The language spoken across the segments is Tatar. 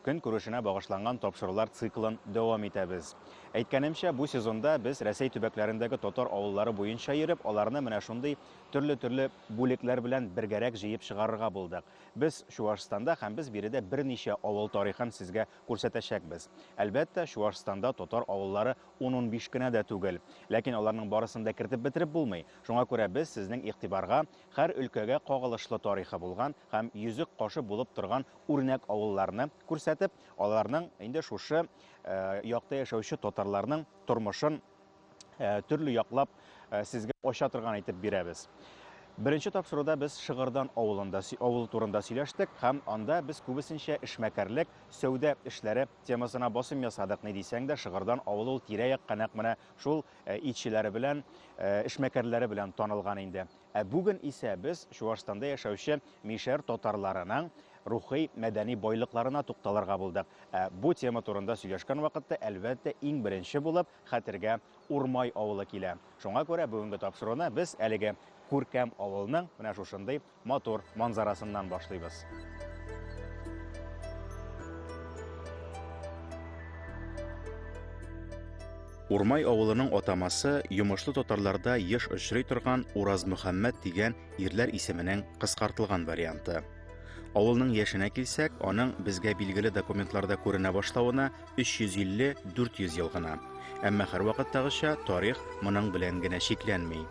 Көнкүрешенә багышланган тапшырулар циклын дәвам итәбез. Әйткәнемчә, бу сезонда без Рәсәй төбәкләрендәге татар авыллары буенча йөреп, аларны менә шундый төрле-төрле бүлекләр белән бергәрәк җыеп чыгарырга булдык. Без Чуашстанда һәм без биредә берничә авыл тарихын сезгә күрсәтәчәкбез. Әлбәттә, Чуашстанда татар авыллары ун-унбиш кенә дә түгел. Ләкин аларның барысын да кертеп бетереп булмый. Шуңа күрә без сезнең игътибарга һәр өлкәгә кагылышлы тарихы булган һәм йөзек кашы булып торган үрнәк авылларны күрсәтеп, аларның инде шушы якта яшәүче татарларның тормышын төрле яклап сезгә ача торган итеп бирәбез. Беренче тапшыруда без Шыгырдан авылында авылы турында сөйләштек һәм анда без күбесенчә эшмәкәрлек, сәүдә эшләре темасына басым ясадык. Ни дисәң дә, Шыгырдан авылы ул тирә-якка нәкъ менә шул итчеләре белән, эшмәкәрләре белән танылган инде. Ә бүген исә без Чуашстанда яшәүче мишәр татарларының рухи, мәдәни байлыкларына тукталырга булдык. Ә бу тема турында сөйләшкән вакытта, әлбәттә, иң беренче булып хәтергә Урмай авылы килә. Шуңа күрә бүгенге тапшыруны без әлеге күркәм авылның менә шушындый матур манзарасыннан башлыйбыз. Урмай авылының атамасы йомышлы татарларда еш очрый торган Уразмөхәммәт дигән ирләр исеменең кыскартылган варианты. Авылның яшенә килсәк, аның безгә билгеле документларда күренә башлавына 350-400 ел гына. Әмма һәрвакыттагыча тарих моның белән генә чикләнми.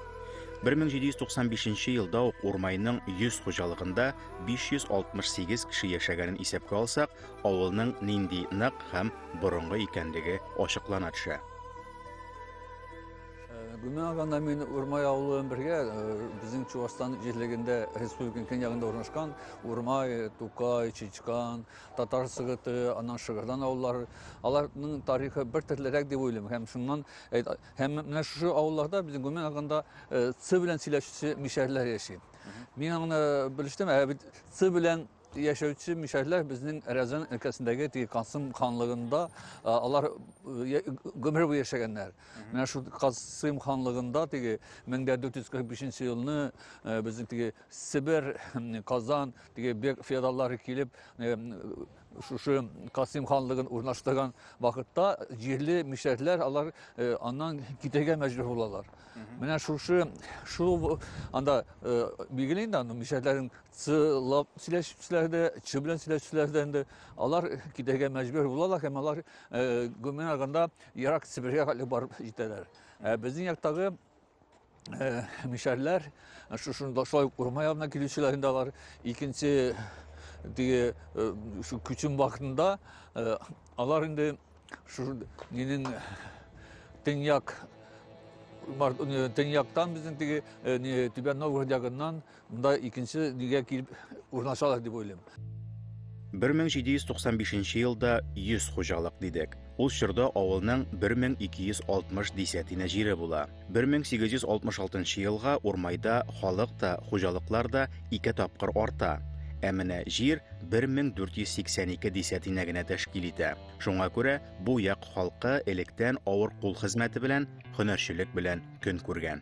1795 елда ук Урмайның 100 хуҗалыгында 568 кеше яшәгәнен исәпкә алсак, авылның нинди нык һәм борынгы икәнлеге ачыклана төшә. Гүмә аганда мин Урмай авылы бергә безнең Чувашстан җирлегендә республиканың көньягында урнашкан Урмай, Тукай, Чичкан, Татар Сыгыты, аннан Шыгырдан авыллары. Аларның тарихы бер төрлерәк дип уйлыйм һәм шуннан һәм менә шушы авылларда безнең Гүмә аганда Ц белән сөйләшүче мишәрләр яши. Мин аны белештем, ә бит Ц белән яшәүче мишәрләр безнең Рязань өлкәсендәге теге Касым ханлыгында алар гомер буе яшәгәннәр. Менә шул Касым ханлыгында теге 1445 елны безнең теге Себер, Казан теге бек феодаллары килеп шушы Касым ханлыгын урнаштырган вакытта җирле мишәрләр алар аннан китәргә мәҗбүр булалар. Менә шушы шул анда билгеле инде аны мишәрләрнең Чылап сөйләшүчеләр дә, чы белән сөйләшүчеләр дә инде алар китәргә мәҗбүр булалар һәм алар э, гомумән алганда ерак Себергә хәтле барып җитәләр. Ә безнең яктагы э, мишәрләр шушында шулай ук урман ягына килүчеләр инде алар икенче теге э, шу күчем вакытында э, алар инде шу нинең төньяк Төньяктан безнең теге э, Түбән Новгород ягыннан Монда икенче нигә килеп урнашалар дип уйлыйм. 1795 елда 100 хуҗалык дидек. Ул чорда авылның 1260 десятина җире була. 1866 елга Урмайда халык та, хуҗалыклар да ике тапкыр арта. Ә менә җир 1482 десятина генә тәшкил итә. Шуңа күрә бу як халкы электән авыр кул хезмәте белән, һөнәрчелек белән көн күргән.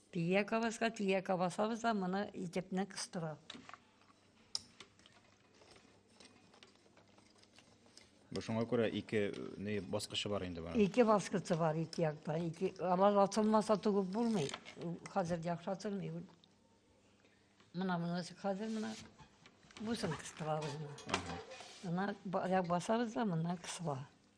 Тия кабаска тия кабасабыз да моны итепне кыстыра. Бу шуңа күрә ике не баскычы бар инде бара. Ике баскычы бар ике якта. Ике алар атылмаса тугып булмый. Хәзер яхшы атылмый. Мына мына хәзер мына бусын кыстырабыз. Ага. Мына я басабыз да мына кысыла.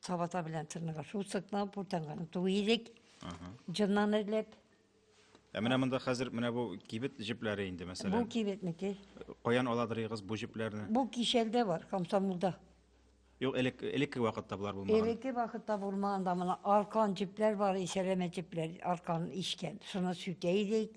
Сабата белән тырныга шул сыкна буртанганын туй идек. Җыннан эзләп. Ә менә монда хәзер менә бу кибет җепләре инде мәсәлән. Бу кибетнеке. Каян аладырыгыз бу җепләрне? Бу кишәлдә бар, комсомолда. Юк, элек элекке вакытта болар булмаган. Элекке вакытта булмаган да моны аркан җепләр бар, исәләмә җепләр, аркан ишкән. Шуны сүтә идек.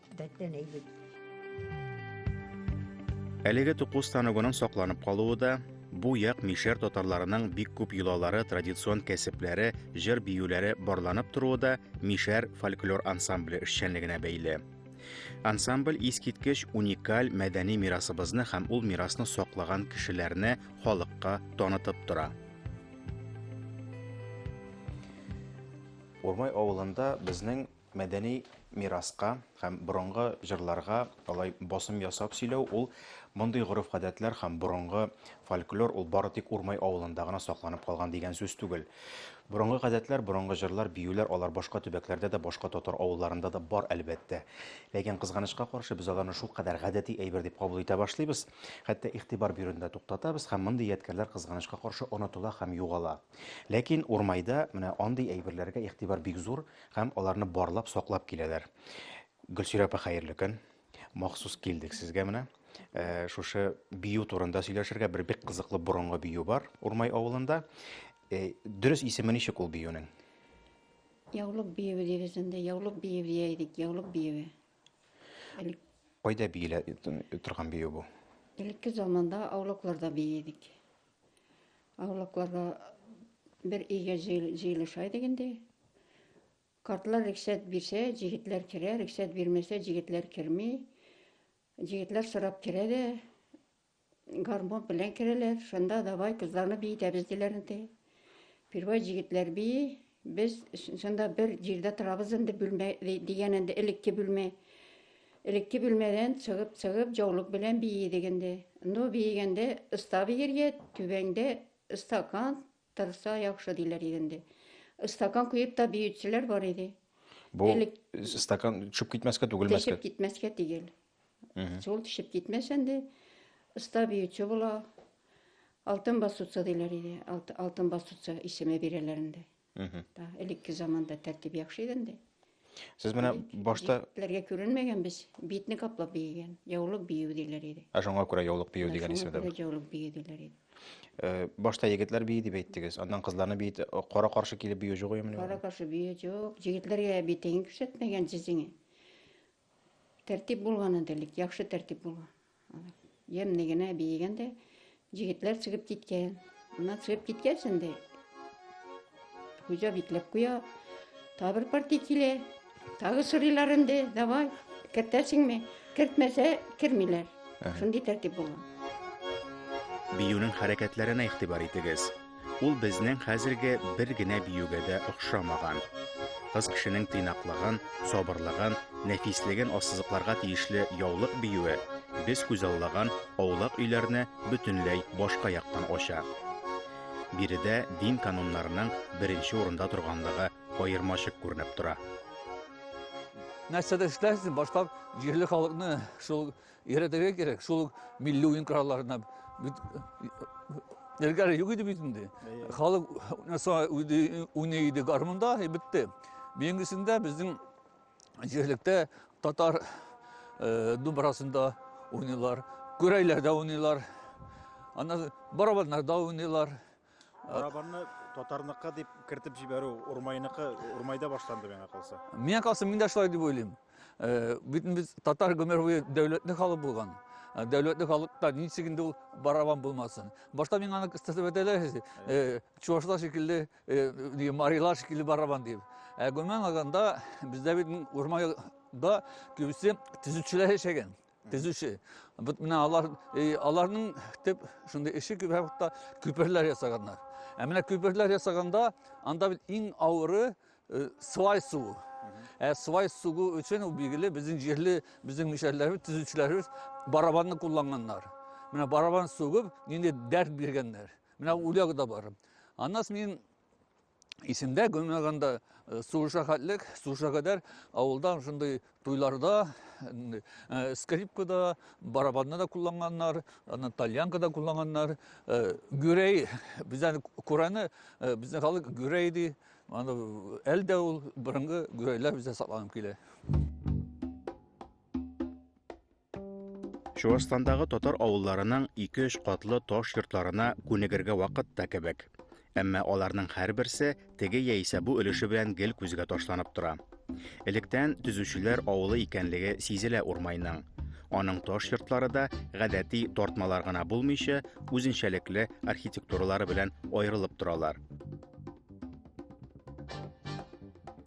Бәттән әйбит. Әлеге тукус станогының сакланып калуы да бу як мишәр татарларының бик күп йолалары, традицион кәсепләре, җыр биюләре барланып торуы да мишәр фольклор ансамбле эшчәнлегенә бәйле. Ансамбль искиткеч уникаль мәдәни мирасыбызны һәм ул мирасны саклаган кешеләрне халыкка танытып тора. Урмай авылында безнең Мәдәни мираска һәм борынгы җырларга алай басым ясап сөйләү, ул мондый гореф-гадәтләр һәм борынгы фольклор ул бары тик Урмай авылында гына сакланып калган дигән сүз түгел. Борынгы гадәтләр, борынгы җырлар, биюләр алар башка төбәкләрдә дә, башка татар авылларында да бар, әлбәттә. Ләкин, кызганычка каршы, без аларны шулкадәр гадәти әйбер дип кабул итә башлыйбыз, хәтта игътибар бирүне дә туктатабыз һәм мондый ядкәрләр, кызганычка каршы, онытыла һәм югала. Ләкин Урмайда менә андый әйберләргә игътибар бик зур, Һәм аларны барлап, саклап киләләр. Гөлсирә апа, хәерле көн. Махсус килдек сезгә менә. Э, шушы бию турында сөйләшергә бер бик кызыклы борынгы бию бар Урмай авылында. Э, дөрес исеме ничек ул биюнең? Яулык биеве дибез инде. Яулык биеве дия идек. Яулык биеве. Элек, Кайда биелә торган бию бу? элекке заманда аулакларда бия идек. Авылакларга бер өйгә җыелыша идек инде. Картлар рөхсәт бирсә, җегетләр керә, рөхсәт бирмәсә, җегетләр керми. Җегетләр сорап керә дә, гармон белән керәләр. Шунда давай кызларны биетәбез диләр инде. Первай җегетләр бии, Без шунда бер җирдә торабыз инде, бүлмә дигән инде элекке бүлмә. Элекке бүлмәдән чыгып-чыгып, җаулык белән биедек инде. Ну, биегәндә ыста биергә, түбәңдә ыстакан торса яхшы диләр иде инде. Ыстакан куеп та биючеләр бар иде. Бу Элек... стакан төшеп китмәскә түгелмәскә. Төшеп китмәскә түгел. Шул төшеп китмәсен ди. Оста биюче була. Алтын басуца диләр иде. Алтын басуца исеме бирәләр инде. Та, элекке заманда тәртип яхшы иде инде. Сез менә башта Ләргә күренмәгән без битне каплап биегән. Яулык бию диләр иде. Ә шуңа күрә яулык бию дигән исем дә. Яулык бию диләр иде. Э, башта егетләр бии дип әйттегез. Аннан кызларны бии кара каршы килеп бию җугыймыни? Кара каршы бию җук. Егетләргә битең күрсәтмәгән җизеңе. Тәртип булган инде элек, яхшы тәртип булган. Ямьне генә биегән дә, җегетләр чыгып киткән. Ана чыгып киткәч инде, хуҗа бикләп куя. Та бер партия килә, тагы сорыйлар инде, давай, кертәсеңме? Кертмәсә, кермиләр. Шундый тәртип булган. Биюнең хәрәкәтләренә игътибар итегез. Ул безнең хәзерге бер генә биюгә дә охшамаган. Кыз кешенең тыйнаклыгын, сабырлыгын, нәфислеген ассызыкларга тиешле яулык биюе без күзаллаган аулак өйләрне бөтенләй башка яктан ача. Биредә дин кануннарының беренче урында торганлыгы аермачык күренеп тора. Нәрсәдә эшләрсең, башка җирле халыкны шул өйрәтергә кирәк, шул милли уен коралларына Элгәре юк иде бит инде. Халык уйный иде гармунда, и бетте. Бүгенгесендә безнең җирлектә татар э, думбрасында уйныйлар, күрәйләрдә уйныйлар, ана барабаннарда уйныйлар. Барабанны татарныкы дип кертеп җибәрү Урмайныкы, Урмайда башланды миңа калса. Миңа калса мин дә шулай дип уйлыйм. Э, бит без татар гомер буе дәүләтле халык булган. Э, дәүләтле халыкта ничек инде ул барабан булмасын. Башта миңа аны кыстатып әйтәләр, э, чувашлар шикелле, марилар шикелле барабан дип. Ә гомумән алганда бездә бит Урмайда күбесе төзүчеләр яшәгән. Төзүче. Бу менә алар э, аларның төп шундый эше күп вакытта күперләр ясаганнар. Ә менә күперләр ясаганда анда бит иң авыры э, свай суы. Ә свай суы өчен ул билгеле безнең җирле безнең мишәрләребез, төзүчеләребез барабанны кулланганнар. Менә барабан сугып, нинди дәрт биргәннәр. Менә үләг да бар. Аннан мин исемдә гөмәганда э, сугышка хәтлек сугышка кадәр авылда шундый туйларда э, скрипкада барабанны да кулланганнар аны тальянка да кулланганнар э, гүрәй бездән күрәне безнең халык гүрәй ди аны әле дә ул борынгы гүрәйләр бездә сакланып килә Чувашстандагы татар авылларының ике-өч катлы таш йортларына күнегергә вакыт та кебек. Әмма аларның һәрберсе теге яисә бу өлеше белән гел күзгә ташланып тора. Электән төзүчеләр авылы икәнлеге сизелә урмайның. Аның таш йортлары да гадәти тартмалар гына булмыйча, үзенчәлекле архитектуралары белән аерылып торалар.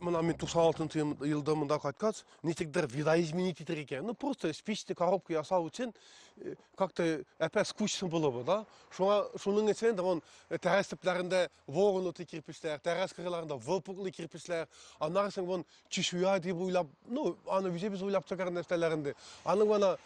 Мына мин 96 елда монда кайткач, ничектер видоизменить итер икән ну просто спичный коробка ясау өчен э, как то әпә скучно было бы да шуңа шуның өчен он э, тәрәз төпләрендә вогнутый кирпечләр тәрәз кырыйларында выпуклый кирпечләр аннары соң он чешуя дип уйлап ну аны үзебез уйлап чыгар нәрсәләр инде аның ана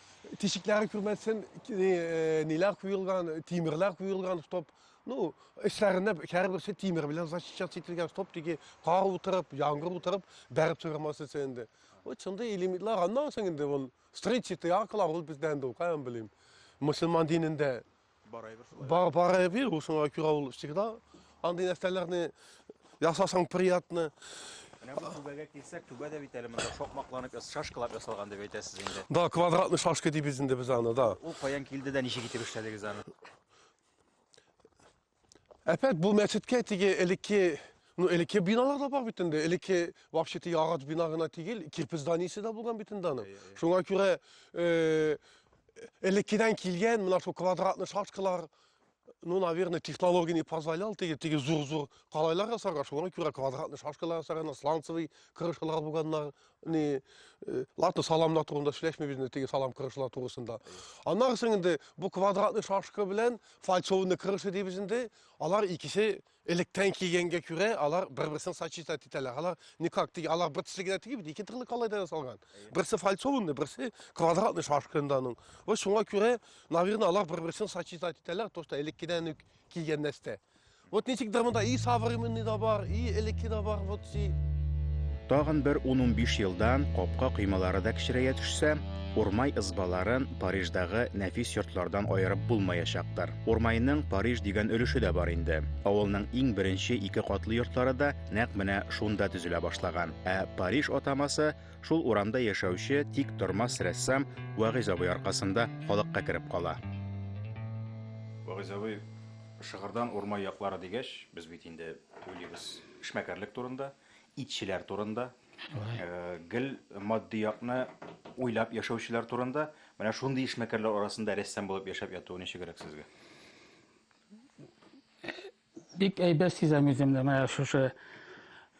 тишекләре күрмәсен э, ниләр куелган тимерләр куелган чтоб Ну, эчләренә һәрберсе тимер белән защищаться ителгән, стоп диге, кар утырып, яңгыр утырып, бәреп чыгармас өчен инде. Вот шундый элементлар, аннан соң инде ул встречи, тыяркалар, ул бездә инде, каян белим. Мусульман динендә бар барай бир, ул шуңа күрә ул всегда андый нәрсәләрне ясасаң приятно. Менә бу түбәгә килсәк, түбә дә бит әле монда шокмакланып, шашкалап ясалган дип әйтәсез инде. Да, квадратный шашка дибез инде без аны, да. Ул каян килде дә ничек итеп эшләдегез аны? Әпәт, бу мәчеткә теге элекке Ну, элекке биналар да бар бит инде. Элекке вообще теге агач бина гына түгел, кирпич зданиесе дә булган бит инде аның. Шуңа күрә э, элеккедән килгән менә шул квадратный шашкалар ну, наверное, технология не позволял теге, теге зур-зур калайлар ясарга, шуңа күрә квадратный шашкалар ясарганнар, сланцевый крышалар булганнар, не э, ладно саламда турында сөйләшмибез инде теге салам кырышлар турысында аннары соң инде бу квадратный шашка белән фальцованный крыша дибез инде алар икесе электән килгәнгә күрә алар бер берсен сочетать итәләр алар никак теге алар бер төсле генә тигеп ике төрле калайда ясалган берсе фальцованный берсе квадратный шашка инде аның вот шуңа күрә наверное алар бер берсен сочетать итәләр то что элеккедән үк килгән нәрсә Вот ничек дә монда и современный да бар, и элекке да бар, вот си. Тагын бер 10-15 елдан капка кыймалары да кечерәя төшсә, Урмай ызбаларын Париждагы нәфис йортлардан аерып булмаячактыр. Урмайның Париж дигән өлеше дә бар инде. Авылның иң беренче ике катлы йортлары да нәкъ менә шунда төзелә башлаган. Ә Париж атамасы шул урамда яшәүче тик тормас рәссам Вагыйз абый аркасында халыкка кереп кала. Вагыйз абый Шыгырдан урмай яклары дигәч, без бит инде уйлыйбыз эшмәкәрлек турында, итчеләр турында, гел матди якны уйлап яшәүчеләр турында. Менә шундый эшмәкәрләр арасында рәссам булып яшәп ятуы ничегрәк сезгә? Бик әйбәт сизәм үземне менә шушы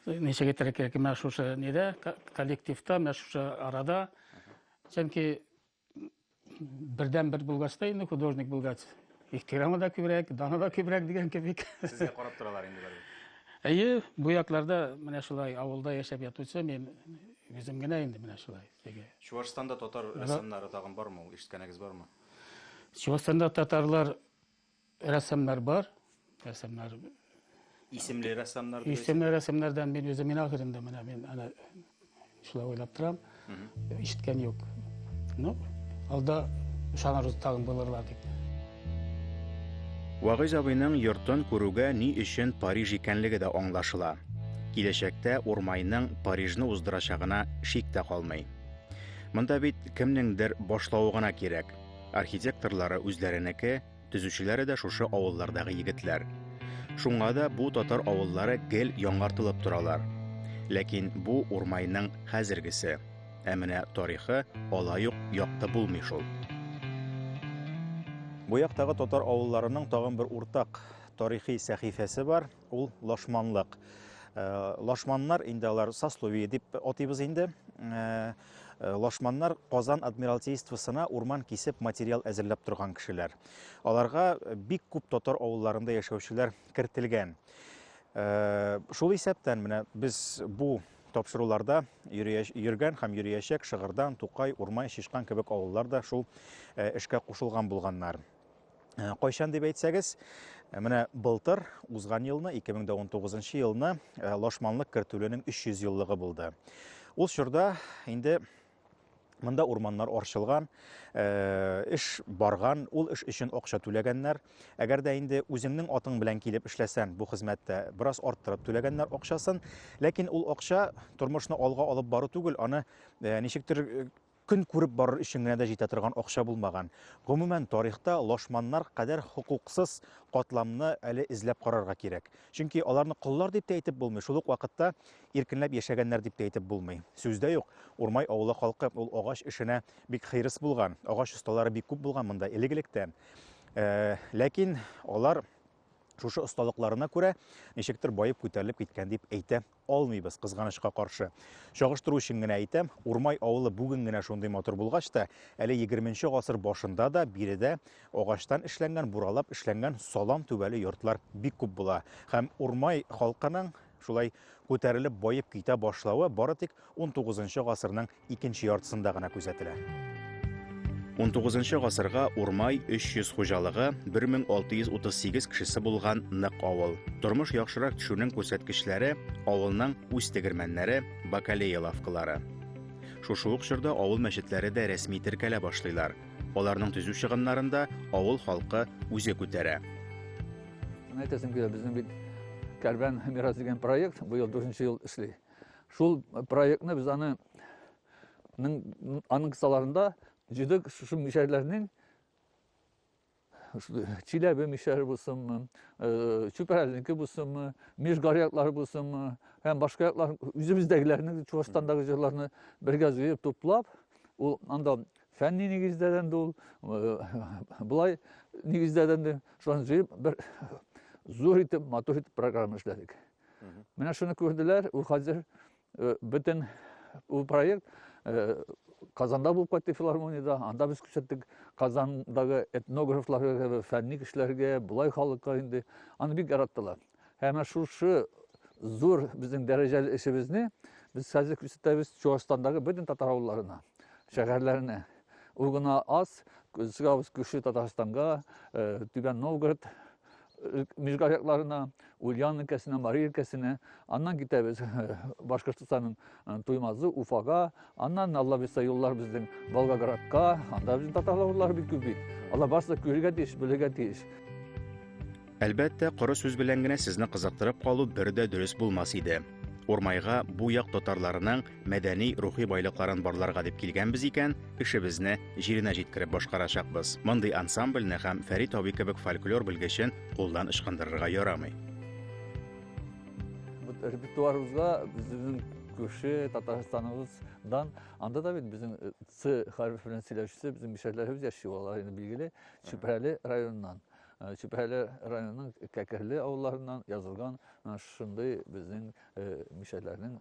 ничек әйтергә кирәк, менә шушы нидә, коллективта, менә шушы арада. Чөнки Бердән бер булгач та инде художник булгач, ихтирамы да күбрәк, даны да күбрәк дигән кебек. Сезгә карап торалар инде бары. Әйе, бу якларда менә шулай авылда яшәп ятучы мин үзем генә инде менә шулай. Теге. Чуашстанда татар рәссамнары тагын бармы ул? Ишеткәнегез бармы? Чуашстанда татарлар Рәссамнар бар. Рәссамнар исемле рәссамнар дип исемле рәссамнардан мин үзем мин ахырым да менә мин ана шулай уйлап торам. Ишеткән юк. Ну, алда ышанырбыз тагын булырлар дип. Вагыйз абыйның йортын күрүгә ни өчен Париж икәнлеге дә аңлашыла. Киләчәктә Урмайның Парижны уздырачагына шик тә калмый. Монда бит кемнеңдер башлавы гына кирәк. Архитекторлары үзләренеке, төзүчеләре дә шушы авыллардагы егетләр. Шуңа да бу татар авыллары гел яңартылып торалар. Ләкин бу урмайның хәзергесе. Ә менә тарихы алай ук якты булмый шул. Бу яктагы татар авылларының тагын бер уртак тарихи сәхифәсе бар. Ул лашманлык. Лашманнар инде алар сословие дип атыйбыз инде. Лашманнар Казан адмиралтействосына урман кисеп материал әзерләп торган кешеләр. Аларга бик күп татар авылларында яшәүчеләр кертелгән. Шул исәптән менә без бу тапшыруларда йөргән һәм йөриячәк Шыгырдан, Тукай, Урмай, Шишкан кебек авыллар да шул эшкә кушылган булганнар. Э, кайчан дип әйтсәгез э, менә былтыр узган елны 2019 елны э, лашманлык кертүленең 300 еллыгы булды ул чорда инде мында урманнар арчылган эш барган ул эш өчен акча түләгәннәр әгәр дә инде үзеңнең атың белән килеп эшләсәң бу хезмәттә бераз арттырып түләгәннәр акчасын ләкин ул акча тормышны алга алып бару түгел аны ничектер Көн күреп барыр өчен генә дә җитә торган акча булмаган. Гомумән, тарихта лашманнар кадәр хокуксыз катламны әле эзләп карарга кирәк. Чөнки аларны коллар дип тә әйтеп булмый, шул ук вакытта иркенләп яшәгәннәр дип тә әйтеп булмый. Сүз дә юк, Урмай авылы халкы ул агач эшенә бик хирыс булган, агач осталары бик күп булган монда элек-электән. Ләкин алар шушы осталыкларына күрә ничектер баеп-күтәрелеп киткән дип әйтә алмыйбыз, кызганычка каршы. Чагыштыру өчен генә әйтәм, Урмай авылы бүген генә шундый матур булгач та, әле егерменче гасыр башында да биредә агачтан эшләнгән, буралап эшләнгән салам түбәле йортлар бик күп була. Һәм Урмай халкының шулай күтәрелеп, баеп китә башлавы бары тик 19 гасырның икенче яртысында гына күзәтелә. Унтугызынчы гасырга Урмай 300 хуҗалыгы, 1638 кешесе булган нык авыл. Тормыш яхшырак төшүнең күрсәткечләре авылның үз тегермәннәре, бакалея лавкалары. Шушы ук чорда авыл мәчетләре дә рәсми теркәлә башлыйлар. Аларның төзү чыгымнарын да авыл халкы үзе күтәрә. Әйтәсем килә, безнең бит Кәрбән мирас дигән проект быел дүртенче ел эшли. Шул проектны без аны аның кысаларында җиде шушы мишәрләрнең Чиләбе мишәре булсынмы, Чүпәрәлнеке булсынмы, Межгар яклары булсынмы, һәм башка яклар үзебездәгеләрне, Чувашстандагы җырларны бергә җыеп туплап, ул анда фәнни нигездәдән ул, былай нигездәдән дә, шуларны җыеп бер зур итеп, матур итеп программа эшләдек. Менә шуны күрделәр, ул хәзер э, бөтен ул проект э, Казанда булып кайтты филармониядә, анда без күрсәттек Казандагы этнографларга, фәнни кешеләргә, былай халыкка инде. Аны бик яраттылар. Һәм шушы зур безнең дәрәҗәле эшебезне без хәзер күрсәтәбез Чуашстандагы бөтен татар авылларына, шәһәрләренә. Ул гына аз, сыгабыз күрше Татарстанга, э, Түбән Новгород, Мижгар якларына, Ульян өлкәсенә, Мари өлкәсенә, аннан китәбез Башкортостанның Туймазы, Уфага, аннан Алла бирсә юллар безнең Волгоградка, анда безнең татарлар бик күп бит. Алар барысы күрергә тиеш, белергә тиеш. Әлбәттә, коры сүз белән генә сезне кызыктырып калу бер дә дөрес булмас иде. Урмайга бу як татарларының мәдәни, рухи байлыкларын барларга дип килгәнбез икән, эшебезне җиренә җиткереп башкарачакбыз. Мондый ансамбльне һәм Фәрит абый кебек фольклор белгечен кулдан ычкындырырга ярамый. Репертуарыбызга безнең күрше Татарстаныбыздан, анда да бит безнең э, Ц хәреф белән сөйләшүче безнең мишәрләребез яши, алар инде билгеле, Чүпрәле районыннан. Э, Чүпрәле районының Кәкерле авылларыннан язылган э, шундый безнең мишәрләрнең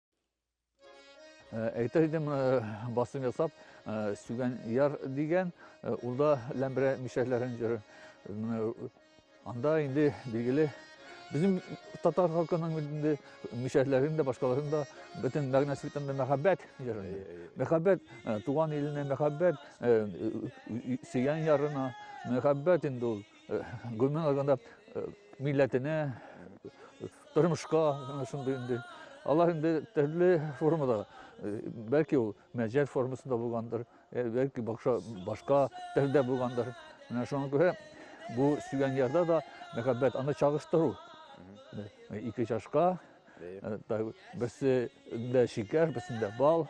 Э, әйтер идем э, басым ясап э, сүгән яр дигән ул да ләмбрә мишәрләрен җыры анда инде билгеле безнең татар халкының инде мишәрләрен дә башкаларын да бөтен мәгънәсе бөтенләй мәхәббәт җыры мәхәббәт туган иленә мәхәббәт сөйгән ярына мәхәббәт инде ул Гомумән алганда, милләтенә, тормышка шундый инде. Алар инде төрле формада, бәлки ул мәҗәл формасында булгандыр, бәлки бакша башка телдә булгандыр. Менә шуңа күрә бу сөйгән ярда да мәхәббәт аны чагыштыру. Ике чашка, берсе дә шикәр, берсендә бал.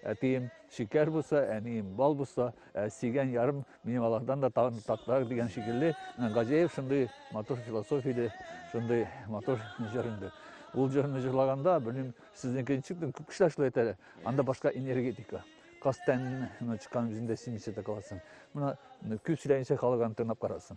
Әтием шикәр булса, әнием бал булса, Ә сөйгән ярым минем алардан да тагын татлырак дигән шикелле, Газеев шундый матур философия иде, шундый матур җыр инде. Ул җырны җырлаганда, белмим, сезнеке ничек, күп кешеләр шулай әйтә, анда башка энергетика. Кастән чыккан үзендә симисә дә каласың. Менә күп сөйләгәнчә халык аны тыңлап карасын.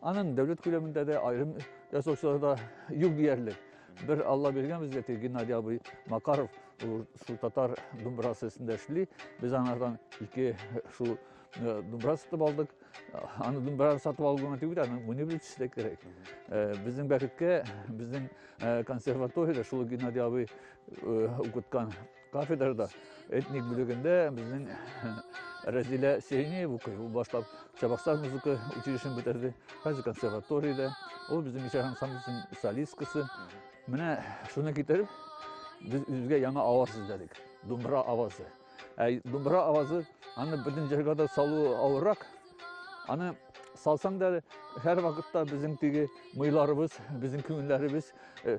Аның дәүләт күләмендә дә аерым ясаучылар да юк диярлек. Бер Алла биргән безгә теге Геннадий абый Макаров ул шул татар думбырасы өстендә эшли. Без анардан ике шул э, думбыра сатып алдык. Аны думбыраны сатып алу гына түгел, аны муни белән төшерә кирәк. Э, безнең бәхеткә, безнең э, консерваториядә шул Геннадий абый укыткан Кафедрада этник бүлегендә безнең Рәзилә Сиринея укый. Ул башлап Чабаксар музыка училищен бетерде. Хәзер консерваториядә. Ул безнең мишәр ансамбльсының солисткасы. Менә шуны китереп, без үзебезгә яңа аваз эзләдек. Думбра авазы. Ә думбра авазы аны бөтен җырга да салу авыррак. Аны салсаң да һәр вакытта безнең теге мыйларыбыз, безнең күңелләребез э,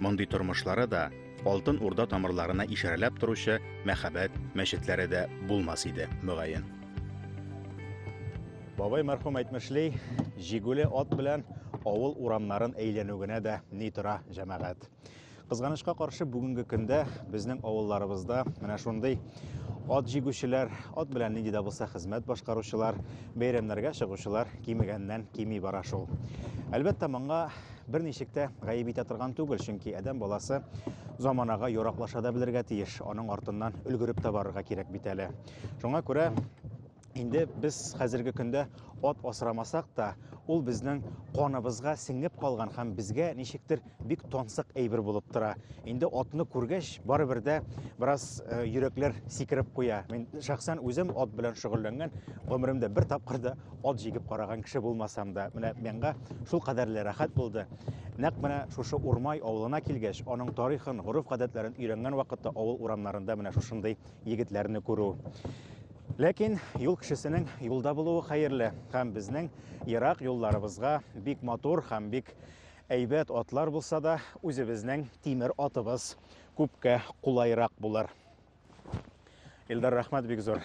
Мондый тормышлары да Алтын Урда тамырларына ишарәләп торучы мәхәббәт мәчетләре дә булмас иде, мөгаен. Бабай мәрхүм әйтмешли, җигүле ат белән авыл урамнарын әйләнү генә дә ни тора, җәмәгать. Кызганычка каршы бүгенге көндә безнең авылларыбызда менә шундый ат җигүчеләр, ат белән нинди дә булса хезмәт башкаручылар, бәйрәмнәргә чыгучылар кимегәннән кими бара шул. Әлбәттә, моңа Бер ничек тә гаеп итә торган түгел, чөнки адәм баласы заманага яраклаша да белергә тиеш, аның артыннан өлгереп тә барырга кирәк бит әле. Шуңа күрә инде без хәзерге көндә ат асрамасак та, ул безнең каныбызга сеңеп калган һәм безгә ничектер бик тансык әйбер булып тора. Инде атны күргәч, барыбер дә бераз э, йөрәкләр сикереп куя. Мин шәхсән үзем ат белән шөгыльләнгән, гомеремдә бер тапкыр да От җигеп караган кеше булмасам да, менә миңа шул кадәрле рәхәт булды. Нәкъ менә шушы Урмай авылына килгәч, аның тарихын, гореф-гадәтләрен өйрәнгән вакытта авыл урамнарында менә шушындый егетләрне күрү. Ләкин юл кешесенең юлда булуы хәерле һәм безнең ерак юлларыбызга бик матур һәм бик әйбәт атлар булса да, үзебезнең тимер атыбыз күпкә кулайрак булыр. Илдар, рәхмәт бик зур.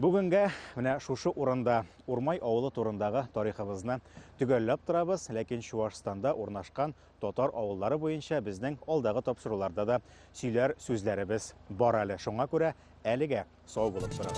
Бүгенгә менә шушы урында Урмай авылы турындагы тарихыбызны төгәлләп торабыз, ләкин Чуашстанда урнашкан татар авыллары буенча безнең алдагы тапшыруларда да сөйләр сүзләребез бар әле. Шуңа күрә әлегә сау булып торыгыз.